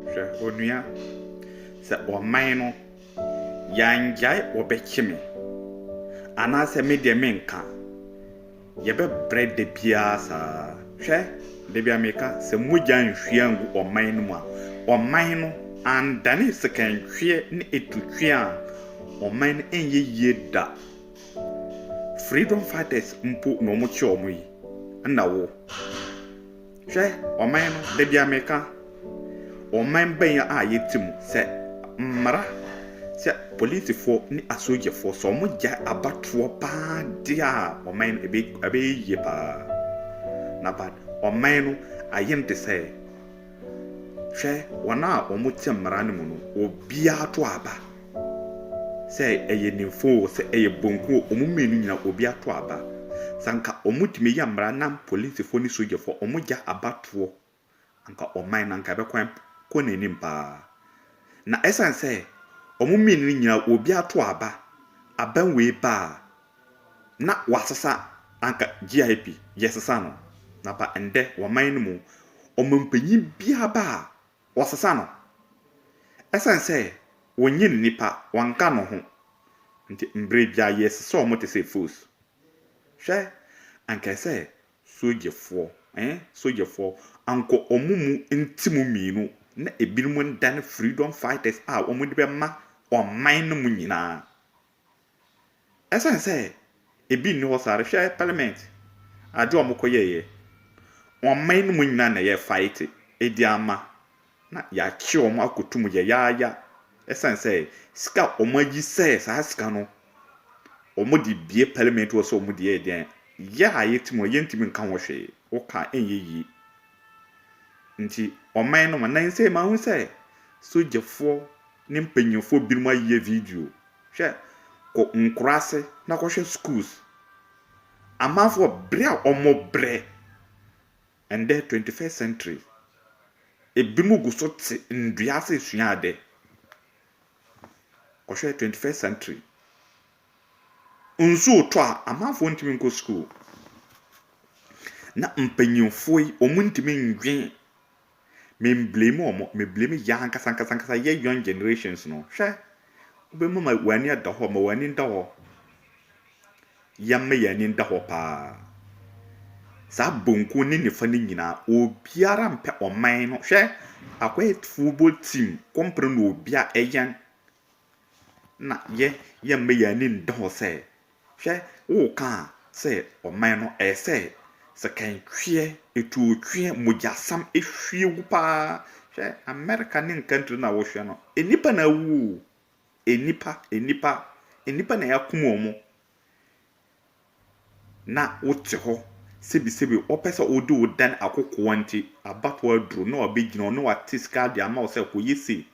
Hwɛ onua, sɛ wɔman no, yangyae wɔbɛkye me, anaasɛ me deɛ menka, yɛbɛbrɛ da biara saa. Hwɛ, da biara meka, sɛ mogya anhwie angu ɔman no mu a, ɔman no andane sekantweɛ ne etutweɛ a, ɔman no ɛnyɛ yie da. Freedom fighters mpo na wɔkye wɔn yi, ɛna wo. Hwɛ ɔman no, da biara meka ɔman bɛn a yɛte mu, sɛ mmara, sɛ polisifoɔ ne asogyafoɔ, sɛ wɔgyae abatoɔ paa deɛ a, ɔman no ɛbɛ ɛbɛyɛ yie paa. Na but ɔman no ayɛ no te sɛ, hwɛ wɔn a wɔte mmara no mu no, obiara to aba. sɛ ɛyɛ nimfo o sɛ ɛyɛ bonku o ɔmo mmienu nyinaa obi ato aba sɛ anka ɔmo tumi yɛ mmara na polisifo ne sogyafo ɔmo gya aba toɔ anka ɔman no anka ɛbɛkɔ kɔ nanim paa na ɛsan sɛ ɔmo mmienu no nyinaa obi ato aba aban wei baa na wasesa anka GIP yɛsesa no na pa ndɛ ɔman no mu ɔmanpanyin biaa baa Wɔsesa no. Esiane sɛ wonnye nnipa, wɔnka no ho nti, bere biara yɛsesa wɔn te sɛ fools. Hwɛ, anka ɛsɛ sogyafoɔ, eh, sogyafoɔ, anka wɔn mu nti mu mmienu na ebinom nnane freedom fighters a wɔde bɛma ɔman no mu nyinaa. Ɛsiane sɛ ebi nni hɔ saa no, hwɛ parliament, ade a wɔkɔyɛeɛ. Ɔman no mu nyinaa na ɛyɛ fight de ama, na yɛakye wɔn akɔto mu yayaaya. Ɛsiane sɛ sika a wɔayi sɛ saa sika no wɔde bue parliament hɔ sɛ wɔde yɛ deɛ, yɛ a yɛte mu no, yɛntumi nka ho hwee. Woka a, ɛnyɛ yie. Nti ɔman no, na nsɛm yi mahu sɛ sogyafoɔ ne mpanyimfoɔ binom ayeyɛ video. Hwɛ, kɔ nkuraase na kɔhwɛ schools. Amanfoɔ bere a wɔbrɛ, ɛndɛ twenty first century, ebinom gu so te nnua ase resua ade. Kɔhwɛ twenty first century. Nsu retɔ a, amanfoɔ ntumi nkɔ school. Na mpanyimfoɔ yi, wɔntumi nnwen Me mblame wɔn, me blame yɛ ankasa ankasa ankasa yɛ young generations no. Hwɛ, wobɛma ma wɔn ani ada hɔ, ma wɔn ani nda hɔ. Yɛmma yɛn ani nda hɔ paa. Saa bonku ne nifa no nyinaa, obiara mpɛ ɔman no. Hwɛ, akwaetufoɔ bɔ team, kɔmpere na obia ɛyɛn. Na yɛ yɛmma yɛn ani nda hɔ sɛ, hwɛ, woka sɛ ɔman no ɛyɛ sɛ sɛkɛntweɛ, etuotweɛ, mogyasam ehwie gu paa. Hwɛ, America ne nkantri no a wohwɛ no, nnipa na awu o, nnipa, nnipa, nnipa na yɛakum wɔn. Na wote hɔ sebisebi wɔpɛ sɛ wode wo dan akokoa nti, abatoɔ aduro na wɔabɛgyina wo na wɔate sika de ama wo sɛ kɔyɛ sei.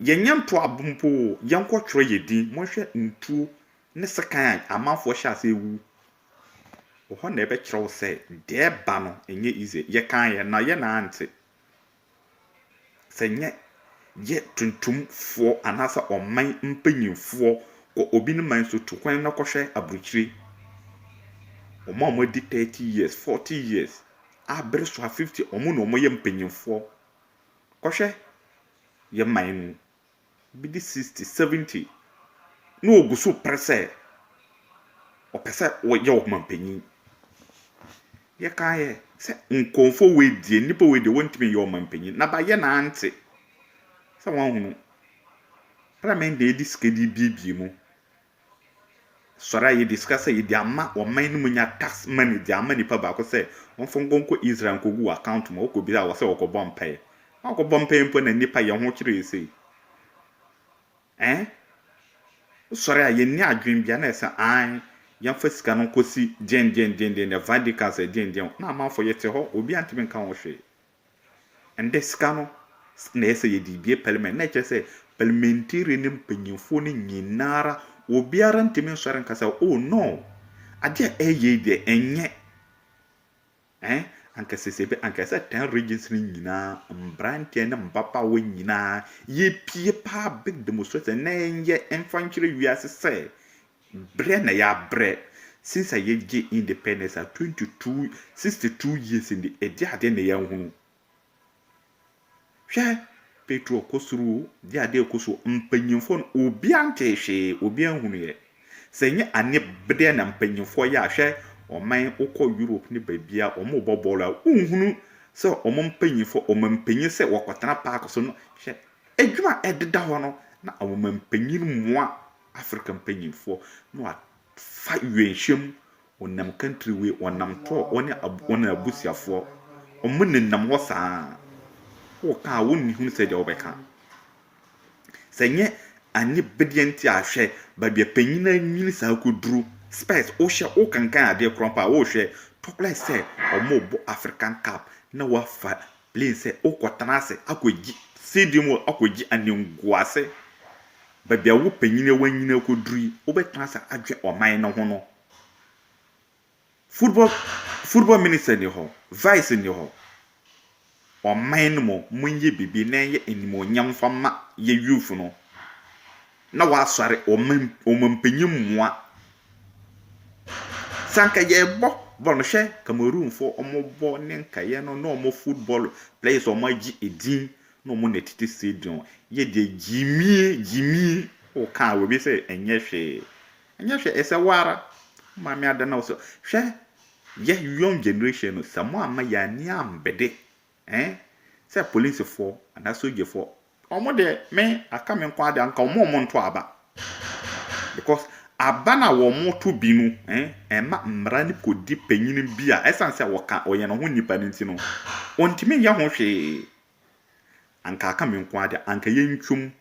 Yɛnyɛ ntoabo mpo oo, yɛnkɔtwerɛ yɛn din. Monhwɛ ntuo ne sekan a amanfoɔ hyɛ aseɛ wu. Wɔ hɔ na ɛbɛkyerɛ wo sɛ deɛ ɛreba no ɛnyɛ easy. Yɛkaeɛ na yɛ na ante. Sɛ nyɛ yɛ tuntumfoɔ anaasɛ ɔman mpanyinfoɔ kɔ obi ne man so tu kwan na kɔhwɛ aburokyire. Wɔn a wɔadi 30 years, 40 years, a bere so a 50, wɔn na wɔyɛ mpanyinfoɔ. kɔhwɛ yɛn man mu bi de sixty seventy na ɔgu so pere sɛ ɔpɛ sɛ ɔyɛ ɔmanpanyin. Yɛkaeɛ sɛ nkurɔfoɔ wei deɛ nnipa wei deɛ wɔntumi nyɛ ɔmanpanyin na bayɛ na ante sɛ wɔahunu parliament na yɛde sika de rebuebue mu Sɔre a yɛde sika sɛ yɛde ama ɔman no mu nya tax money de ama nipa baako sɛ ɔmfa nkɔ nkɔ Israel nkɔgu w'account mu, wokɔ bisa a wɔsɛ wɔkɔbɔ mpaeɛ. Woankɔbɔ mpaeɛ mpo na nipa yɛ ho kyerɛ sei. Ɛn? Sɔre a yɛnni adwene bia na ɛsɛ ae yɛmfa sika no nkɔsi gyengyengyengyen, the Vatican sɛ gyengyen, na amanfoɔ yɛte hɔ obiara ntumi nka ho hwee. Ɛnde sika no na ɛsɛ sɛ yɛde bue parliament. Na ɛkyerɛ sɛ parliamentarian ne mpanyimfoɔ no nyinaa ara, obiara ntumi nsɔre nka sɛ, oh no, adeɛ a ɛreyɛ yi deɛ ɛnyɛ. Ɛn, anka sese bɛ, anka ɛsɛ ten regions no nyinaa, mmeranteɛ ne mmabaawa nyinaa, yɛpue paa big demonstration na ɛnyɛ mfa nkyerɛ wiase sɛ Brɛ na yɛabrɛ since a yɛgye independence a 22 62 years ni ɛdeɛ adeɛ na yɛanhunu hwɛ petrol kɔ soro o deɛ adeɛ ɛkɔ so mpanyinfoɔ no obiara ntee hwee obiara nhunuiɛ sɛ nyɛ ane brɛ na mpanyinfoɔ yɛ a hwɛ ɔman wokɔ Europe ne baabia wɔn bɔ bɔɔlo a wonhunu sɛ wɔn mpanyinfoɔ wɔn mpanyin sɛ wɔkɔtena park so no hwɛ adwuma ɛdeda hɔ no na wɔn mpanyin mmoa Afrika mpanyimfoɔ na wɔafa wienhwɛmu wɔnam country wei wɔnam tour wɔne wɔn abusuafoɔ wɔn nenam hɔ saa woka a wɔnni hunu sɛ deɛ wɔbɛka sɛ nyɛ anyɛ bɛdeɛ nti a hwɛ baabi a panyin anyini saa kɔduru spɛs wohyɛ wokankan adeɛ korɔ mpo a wohwɛ tɔkora sɛ wɔn rebɔ African cup na wɔafa Plane sɛ wokɔtena ase akɔgye seeding mu akɔgye animguase baabi a wo panyin a wanyini akɔduru yi wobɛtena ase adwene ɔman no ho no football football minister ni hɔ vice ni hɔ ɔman no mu monyɛ biribi na ɛnyɛ animuonyam fa ma yɛ youth no Na wɔasɔre wɔn mpanyin mmoa. Sɛ anka yɛbɔ bɔɔl no, hwɛ Cameroonfo wɔn bɔ ne nkaeɛ no ne wɔn football players a wɔagye edin ne wɔn na ɛtete stadium. Yɛ deɛ gyimie gyimie woka a obi sɛ ɛnyɛ hwee. Ɛnyɛ hwee ɛsɛ wo ara wo maame ada na wo sɛ hwɛ yɛ young generation no sɛ moamma yɛn ani ambede Eh sɛ police foɔ anaa sogye foɔ. Ɔmo deɛ me aka me nkoaa deɛ anka ɔmo ɔmo nto aba because aba no a ɔmo to bi no eh ɛma mmara no kɔ di panyini bi a ɛsan sɛ ɔka ɔyɛ ne ho nipa no nti no ɔntumi nyɛ ho hwee anka aka me nkoaa deɛ anka yɛ ntwom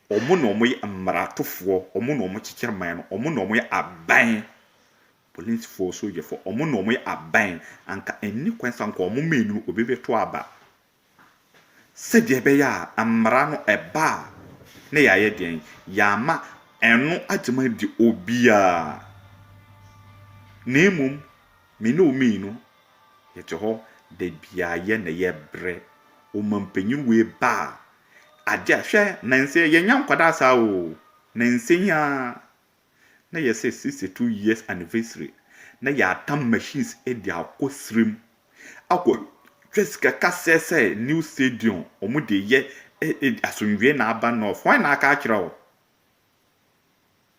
ɔmo na ɔmo yɛ mmara to foɔ ɔmo na ɔmo kyekyere man no ɔmo na ɔmo yɛ aban Polisfoɔ, sogyafoɔ, wɔn na wɔyɛ aban. Anka ɛnni kwan sɛ anka wɔn mmienu no obi bɛto aba. Sɛdeɛ ɛbɛyɛ a mmara no ɛba a na yɛayɛ deɛn? Yɛama ɛno agyema adi obiara. Na mmom me ne wo mmienu yɛte hɔ da biara yɛ na yɛbrɛ ɔmanpanyin wei ba a adeɛ a hwɛ nansa yi yɛnya nkwadaa saa o. Nansa yi ara na yɛ sɛ sixty two years anniversary na yɛatam machines de akɔ serem akɔ twa sika kasɛɛ sɛ new stadium wɔn de yɛ asomdwee na aba north hwan na aka akyerɛ wo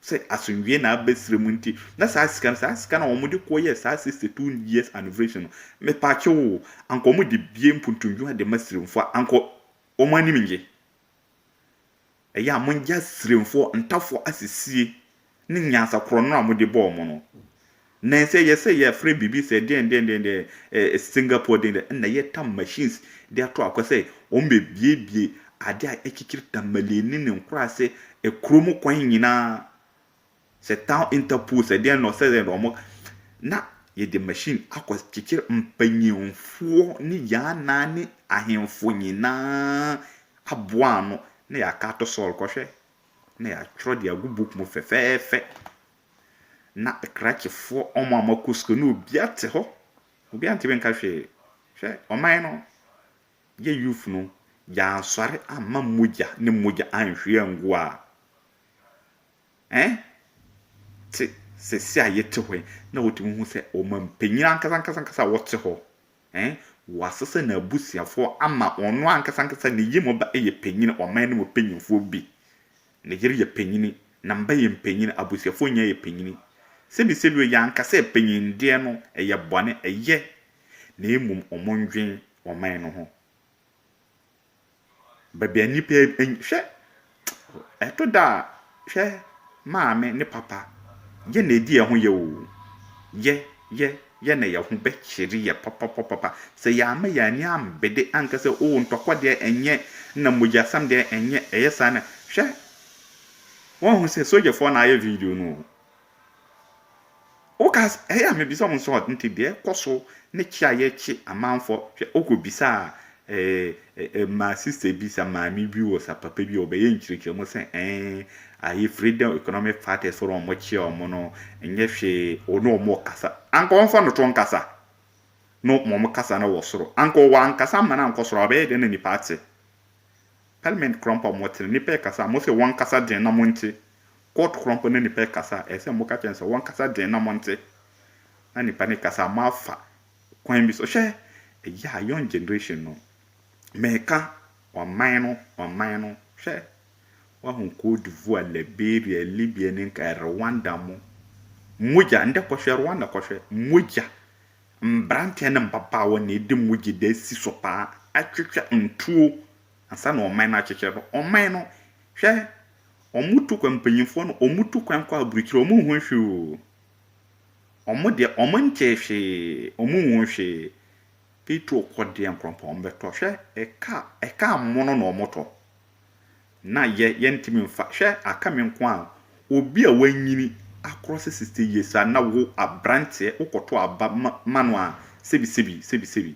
sɛ asomdwee na aba serem nti na saa sika no saa sika na wɔn de kɔ yɛ saa sixty two years anniversary no mepakye wo anka wɔn de bie mpuntumdwuma de ma seremfoɔ anka wɔn anim nye Ɛyɛ a mongye asiremfoɔ, ntafoɔ asisie ne nyansa korɔno a mode bɔɔ mo no. Nen sɛ ɛyɛ sɛ yɛfrɛ biribi sɛ deɛn deɛn deɛn deɛn eh, Singapore deɛn deɛn, ɛna yɛtam machines de ato akwa sɛ wɔn bɛbuebue adeɛ a ɛkyekyere Tamale ne ne nkuraase, eh, kurom kwan nyinaa. Sɛ town interpol sɛ deɛn na ɔsɛ dɛ na ɔmo na yɛde machine akɔ kyekyere mpanyinfoɔ ne yaanaa ne ahenfo nyinaa aboa ano na yɛaka ato sɔɔl kɔ hwɛ na yɛatwerɛ de agu book mu fɛfɛɛfɛ na krakyefoɔ ɔmo a moakɔ sukuu na obia te hɔ obia ntimi nka hwee hwɛ ɔman no yɛ youth no yɛansɔre amma mogya ne mogya anhwie angu a Ɛn te sɛsi a yɛte hɔ yi na wotumi hu sɛ ɔmampanyin ankasankasa a ɔte hɔ, ɛn, wasesa n'abusuafoɔ ama ɔno ankasankasa ne yam ba yɛ panyin, ɔman no mu panyinfoɔ bi, ne yere yɛ panyin, ne mba yɛ mpanyin, abusuafoɔ nyinaa yɛ panyin. Sɛbisɛbi o, yɛanka sɛ panyindeɛ no yɛ bɔne, ɛyɛ, na mmom wɔndwen ɔman no ho. Baabi a nnipa eny hwɛ! Ɛto da a, hwɛ maame ne papa, yɛ na edi yɛn ho yɛ oo. Yɛ, yɛ, yɛ na yɛn ho bɛkyere yɛn papapapapa. Sɛ yɛamma yɛn ani ambede anka sɛ, oo ntɔkwa deɛ ɛnyɛ, ɛna mogyasɛm deɛ ɛnyɛ, ɛyɛ saa na. Hwɛ! Wɔahu sɛ sogyafoɔ na ayɛ video no oo. Woka s ɛyɛ a mebisa wo nso a nti deɛ ɛkɔ so ne kye a yɛkye amanfoɔ, hwɛ wokɔbisaa ɛɛ mmaa sister bi sa maame bi wɔ sa papa bi a ɔbɛyɛ nkyerɛkyerɛmu sɛ ɛɛn ayi freedom economic fighters fo no wɔkye wɔn no nyɛ hwee wo ne wɔn kasa anka wɔmfa no to nkasa no ma wɔn kasa no wɔ soro anka ɔwɔ ankasa ama no ankɔ soro a ɔbɛyɛ dɛn na nipa ate Parliament korɔmpa a wɔte no, nnipa rekasa a, mose wɔnkasa den na monte. Court korɔmpa na nnipa rekasa a, ɛsɛ sɛ moka kyerɛ no sɛ wɔnkasa den na monte. Na nnipa no rekasa a, moafa kwan bi so. Hwɛ! Ɛyɛ a young generation no, mereka ɔman no, ɔman no. Hwɛ! Woahu Cote d'Ivoire, Liberia, Libya ne nka Rwanda mo mogya. Ndɛ kɔhwɛ Rwanda, kɔhwɛ. Mogya. Mberanteɛ ne mbabaawa na edi mu gye dɛ si so paa twetwa ntuo ansa na ɔman no akyekyɛ no. Ɔman no, hwɛ, ɔmo tu kwan, mpanyinfoɔ no, ɔmo tu kwan kɔ aburukyire, ɔmo nhu hwee o. Ɔmo deɛ, ɔmo ntee hwee, ɔmo nhuu hwee. Petro kɔ deɛ nkorɔmpɔn bɛtɔ, hwɛ, ɛka, ɛka mono na ɔmo tɔ. Na yɛ yɛntimi nfa, hwɛ aka me nko a obi a wanyini akorɔse sixty years a na wo abranteɛ wokɔto aba ma ma no a sebi sebi sebi sebi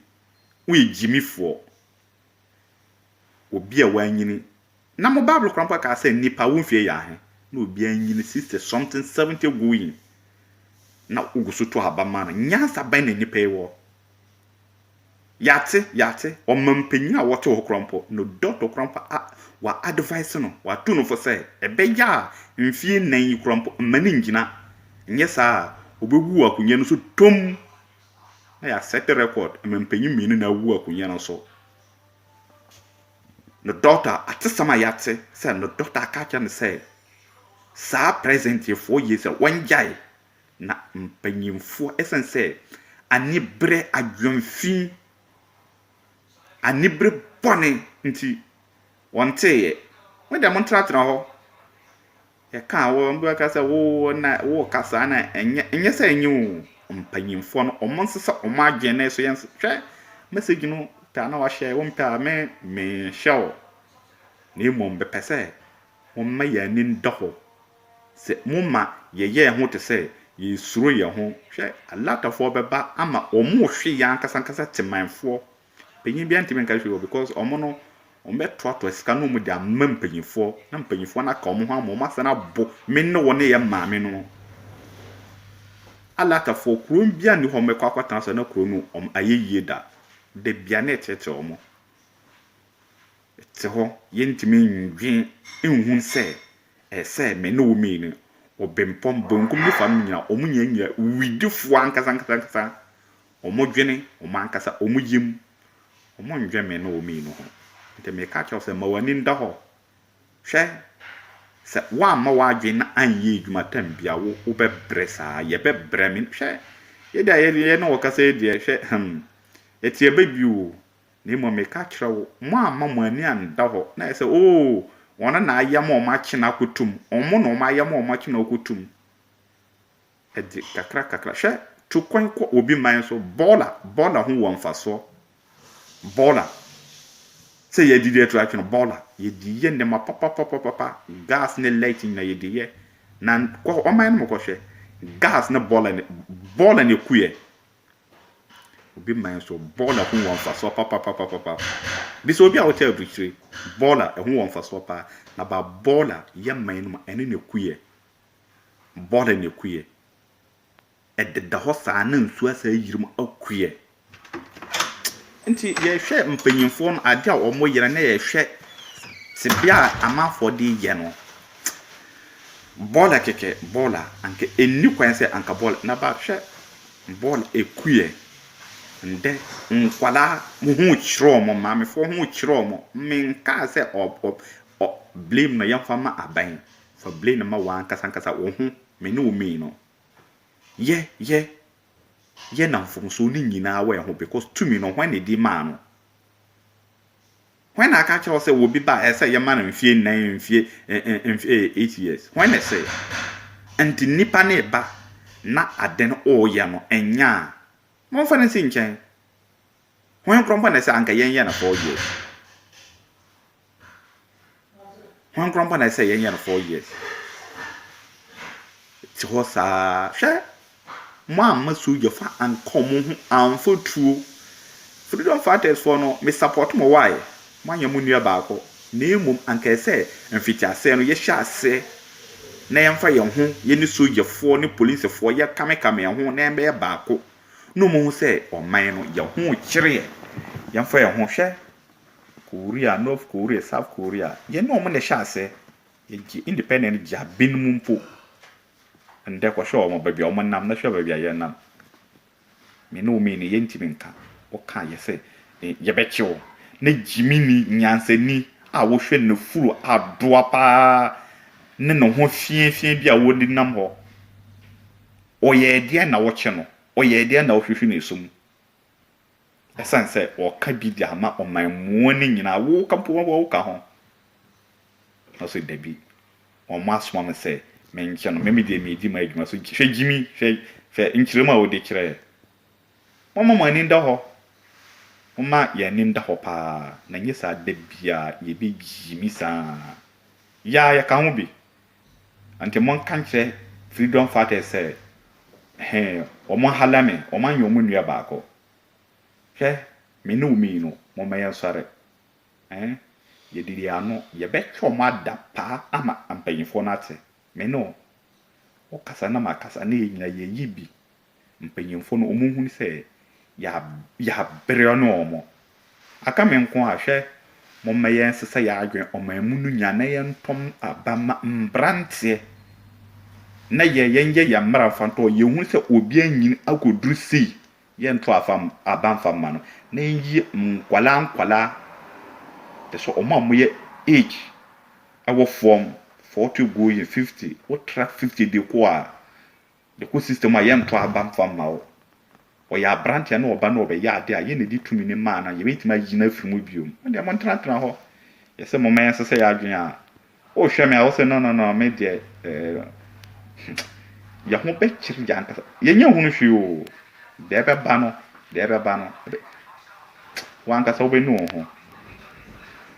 woyɛ gyimifoɔ obi a wanyini na mo bible koraa mpo aka sɛ nipa wo mfie yɛ ahe na obi anyini sixty something seventy going na wogu so to aba ma no nyansa bɛn na nipa yi wɔ Yɛate, yɛate. Ɔmampanyin a ɔte hɔ koraa mpo no, dɔkta koraa mpo a wɔa-advise no, wɔatu no fo sɛ, ɛbɛyɛ a mfeɛ nnan yi koraa mpo mma no ngyina, nyɛ saa a ɔbɛwu wɔ akonnwa no so tomm. Na yɛasɛte record, mampanyin mmienu na awu wɔ akonnwa no so. No dɔkta, atesɛm a yɛate sɛ no dɔkta aka akyerɛ no sɛ, saa present-yearfoɔ yi sɛ wɔngyae. Na mpanyimfoɔ, ɛsiane sɛ aniberɛ adwemfi, anibere bɔne nti, wɔnteeɛ. Mo deɛ montratena hɔ. Yɛka a, wɔn bi bɛka sɛ, woo na woreka saa na ɛnyɛ, ɛnyɛ sɛ ɛnyɛ o. Mpanyimfoɔ no, wɔnsesa wɔn adwene na ɛso yɛn. Hwɛ message no pɛ a na wahyɛ, wompɛ a, me menhyɛ wo. Na mmom mepɛ sɛ wɔma yɛn ani da hɔ. Sɛ mo ma yɛyɛɛ ho te sɛ yɛresuro yɛn ho, hwɛ, Alatɔfoɔ bɛba ama wɔrehwe yɛn ankasa ankasa Temanfoɔ. Panyin biara ntumi nka hwee wɔ because wɔn no, wɔbɛtoatoa sika na wɔde ama mpanyinfoɔ, na mpanyinfoɔ no aka wɔn ho ama wɔn asan abo me ne wo ne yɛn maame no ho. Alatɔfoɔ, kuro biara nni hɔ a wɔbɛkɔ akɔtena so na kuro no wɔayɛ yie da. Da biara na ɛkyerɛkyerɛ wɔn. te hɔ, yɛntumi nnwen nhu sɛ ɛsɛ sɛ me ne wo mmienu, obempɔn, benkum ne fam nyinaa, wɔn nyinaa nya widifoɔ ankasa ankasa ankasa, wɔdwene wɔn ankasa wɔn yam, wɔnnwen me ne wo mmienu ho. Nti meka kyerɛ wo sɛ, ma w'ani nda hɔ, hwɛ, sɛ woamma w'adwene no anyɛ adwuma tam bi a, wo, wobɛbrɛ saa, yɛbɛbrɛ, me, hwɛ, yɛdeɛ a yɛne wo kasa yi deɛ, hwɛ, hmm, ɛte abɛ bio o, Na mmom meka kyerɛ wo, moamma mo ani annda hɔ, na ayɛ sɛ, Oo, wɔn na na ayɛ ma wɔakye no akɔto mu, wɔn na wɔayɛ ma wɔakye no akɔto mu. Ɛde kakra kakra. Hwɛ, tu kwan kɔ obi man so, bɔɔla, bɔɔla ho wɔ mfasoɔ, bɔɔla, sɛ yɛdidi ato atwe no, bɔɔla, yɛdi yɛ nneɛma papapapapa, gas ne light nyina yɛdi yɛ, na kɔ ɔman no mu kɔhwɛ, gas ne bɔɔla, bɔɔla na ɛku yɛ, Obi man nso, bɔɔla ho wɔ mfasoɔ papapapapa. Bi sɛ obi a ɔkyɛ aburukyire, bɔɔla ɛho wɔ mfasoɔ paa. Na ba bɔɔla yɛ man no mu a, ɛno na ɛkuiɛ. Bɔɔla na ɛkuiɛ. Ɛdeda hɔ saa na nsuo asan ayiri mu akuiɛ. Nti yɛhwɛ mpanimfoɔ no, adeɛ a wɔyɛ no na yɛhwɛ tebea a amanfoɔ de reyɛ no, bɔɔla kɛkɛ, bɔɔla, anka ɛnni kwan sɛ anka bɔɔla. Na ba hwɛ Bɔɔl ekuiɛ, ndɛ nkwadaa mo ho rekyerɛ wɔn, maamefoɔ ho rekyerɛ wɔn. Menkaa sɛ blame no yɛmfa mma aban, fa blame no ma w'ankasa ankasa wo ho, me ne wo mii no. Yɛ yɛ yɛ na mfomsoɔ no nyinaa wɔ yɛn ho because tumi no hwan na ɛdi maa no? Hwan na aka akyerɛ wo sɛ obi ba a ɛsɛ sɛ yɛma no mfeɛ nnan, mfeɛ mfeɛ eh, eight years? Hwan na ɛsɛ? Nti nnipa no reba na ade no ɔreyɛ no ɛnyɛ a, momfa no nsi nkyɛn. Hwan koraa mpo na ɛsɛ anka yɛnyɛ no four years? Hwan koraa mpo na ɛsɛ sɛ yɛnyɛ no four years? Te hɔ saa. Hwɛ, moamma sogyafo anka wɔn ho amfa tuo. Freedom fighters foɔ no, me support mo why? Moanyɛ mo nua baako. Na mmom anka ɛsɛ sɛ mfitiaseɛ no yɛhyɛ aseɛ na yɛmfa yɛn ho, yɛne sogyafoɔ ne policefoɔ yɛkamekame yɛn ho na yɛbɛyɛ baako na wɔahu sɛ ɔman no yɛn ho kyere yɛn. Yɛmfa yɛn ho, hwɛ, Korea, North Korea, South Korea, yɛne wɔn na ɛhyɛ aseɛ. Yɛgye independent gya binom mpo. Ɛndɛ kɔhwɛ wɔn baabi a wɔnam na hwɛ baabi a yɛnam. Me ne wo mmieni yɛntumi nka. Woka yɛ sɛ yɛbɛkye wo. Na gyimini, nyansani a wohwɛ n'afuru adoa pa ara ne ne ho fiafiaa bi a ɔde nam hɔ. Ɔyɛɛ deɛn na wokye no? Ɔyɛɛ deɛn na wohwehwe ne su mu? Ɛsiane sɛ wɔka bi de ama ɔmanmuo no nyinaa, wo mpo woka ho? Ɔse, Dabi, wɔasoma me sɛ menkyɛ no, me deɛ meredi m'adwuma so. Hwɛ gyimi, hwɛ nkyerɛmu a wode kyerɛɛ. Momma mo ani nda hɔ. Momma yɛn ani nda hɔ pa ara, na ɛnyɛ saa da biara yɛbɛgyimi saa. Yɛ ara yɛka ho bi, Nti monka nkyerɛ Freedom Fighters sɛ he wɔahala me, wɔanyɛ wɔn nua baako. Hwɛ, me ne wo mii no, momma yɛnsɔre. He yɛdidi yɛn ano, yɛbɛtwe wɔn ada paa ama mpanyimfoɔ no ate. Me ne wo, wokasa na makasa na yɛn nyinaa yɛyi bi Mpanyimfo no, wɔhunu sɛ yɛabrɛ no wɔn. Aka me nko a, hwɛ, momma yɛnsesa yɛn adwene ɔman mu no nyinaa na yɛntɔ aba mma mmeranteɛ na yɛnyɛ yɛn mmara mfa ntɔ wɔn. Yɛhunu sɛ obi anyin akɔduru sei, yɛntɔ aba mfa mma no, na yɛnyi nkwadaa nkwadaa, kyerɛ sɛ wɔn a wɔyɛ age wɔ fam, forty going fifty, wotra fifty de kɔ a, Yɛkɔ sister mu a yɛntɔ aba mfa mma wo. Ɔyɛ abranteɛ na ɔba na ɔbɛyɛ adeɛ a yɛn na ɛde tumi no maa no a yɛbɛtumi ayi no afiri mu biom. Mo deɛ montenatena hɔ. Yɛsɛ momma yɛnsesa yɛn adwene a wohwɛ me a wosɛ no no no me deɛ eh, yɛn ho bɛkyere yɛn ankasa. Yɛnyɛ hunu hwee o. Deɛ ɛbɛba no, deɛ ɛbɛba no, ɛbɛ, wankasa wobɛnu wo ho.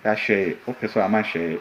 Yɛahwɛ, wopɛ so ama hwɛ.